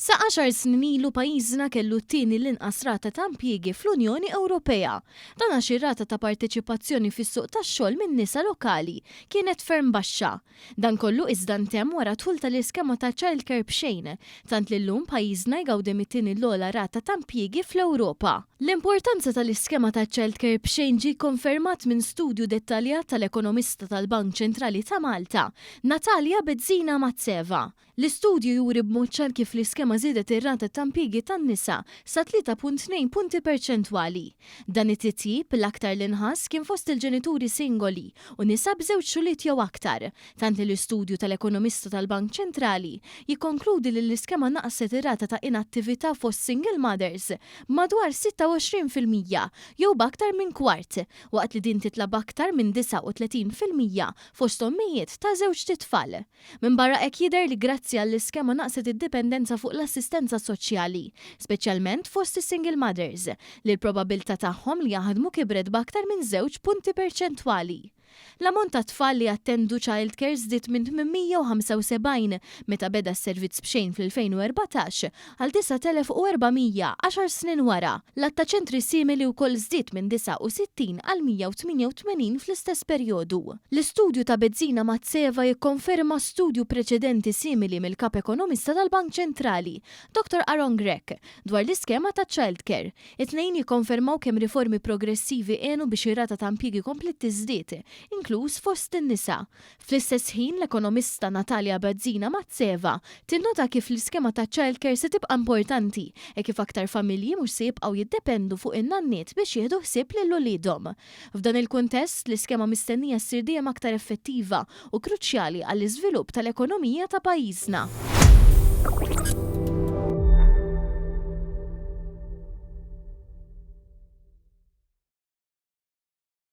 Sa għaxar snin ilu pajjiżna kellu t-tieni l-inqas rata ta' impjiegi fl-Unjoni Ewropea. Dan għax ir-rata ta' parteċipazzjoni fis-suq tax-xogħol min-nisa lokali kienet ferm baxxa. Dan kollu iżda ntemm wara d-dħul tal-iskema ta' childcare b'xejn, tant li llum pajjiżna jgawdi mit-tieni l-ogħla rata ta' impjiegi fl-Ewropa. L-importanza tal-iskema ta' childcare b'xejn ġie kkonfermat minn studju dettaljat tal-ekonomista tal-Bank Ċentrali ta' Malta, Natalia Bezzina Mazzeva. L-istudju juri b'mod ċar kif l-iskema żiedet ir-rata ta' impjiegi tan-nisa sa 3.2 punti perċentwali. Dan it-titjib, l-aktar li nħass, kien fost il-ġenituri singoli u nisa b'żewġ xogħliet jew aktar, tant li l-istudju tal-ekonomista tal-Bank Ċentrali jikkonkludi li l-iskema naqqset ir-rata ta' inattività fost single mothers b'madwar 26 fil-mija jew b'aktar minn kwart, waqt li din titla' b'aktar minn 39 fil-mija fost ommijiet ta' żewġt itfal. Minbarra hekk jidher li grazzi għall-iskema naqset id-dipendenza fuq l-assistenza soċjali, speċjalment fost is-single mothers, li l-probabbiltà tagħhom li jaħdmu kibret b'aktar minn żewġ punti perċentwali. L-ammont ta' tfal li jattendu childcare żdied minn 875 meta beda s-servizz b'xejn fl-2014 għal 9,400 għaxar snin wara. L-għadd ta' ċentri simili wkoll żdied minn 69 għal 188 fl-istess perjodu. L-istudju ta' Bezzina Mazzeva jikkonferma studju preċedenti simili mill-Kap Ekonomista tal-Bank Ċentrali, Dottor Aaron Grech, dwar l-iskema taċ-childcare. It-tnejn jikkonfermaw kemm riformi progressivi għenu biex ir-rata ta' impjiegi kompliet tiżdied, inkluż fost in-nisa. Fl-istess ħin, l-ekonomista Natalia Bazzina Mazzeva tinnota kif l-iskema ta' childcare se tibqa' importanti hekk kif aktar familji mhux se jibqgħu jiddependu fuq in-nanniet biex jieħdu ħsieb lil uliedhom. F'dan il-kuntest, l-iskema mistennija ssir dejjem aktar effettiva u kruċjali għall-iżvilupp tal-ekonomija ta' pajjiżna.